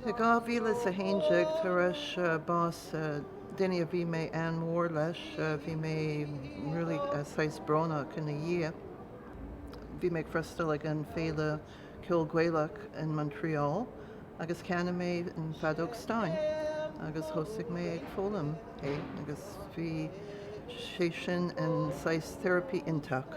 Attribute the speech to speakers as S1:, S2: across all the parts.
S1: I 2011, tar éis bás duine a bhí mé an-mhór leis, bhí mé really saghas brónach ina dhiaidh. Bhí mé ag freastal ag an Féile Ceoil Gaelach in Montreal agus cheannaigh mé an feadóg stáin agus thosaigh mé ag foghlaim é agus bhí sé sin an saghas therapy iontach.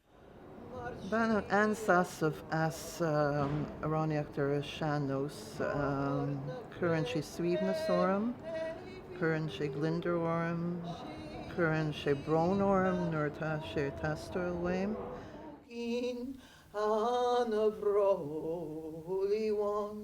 S1: Bainim an-sásamh as amhránaíocht ar an sean-nós. Cuireann sé suaimhneas orm, cuireann sé gliondar orm, cuireann sé brón orm nuair atá sé ag teastáil uaim. Cinn
S2: ana bhródúil uaim.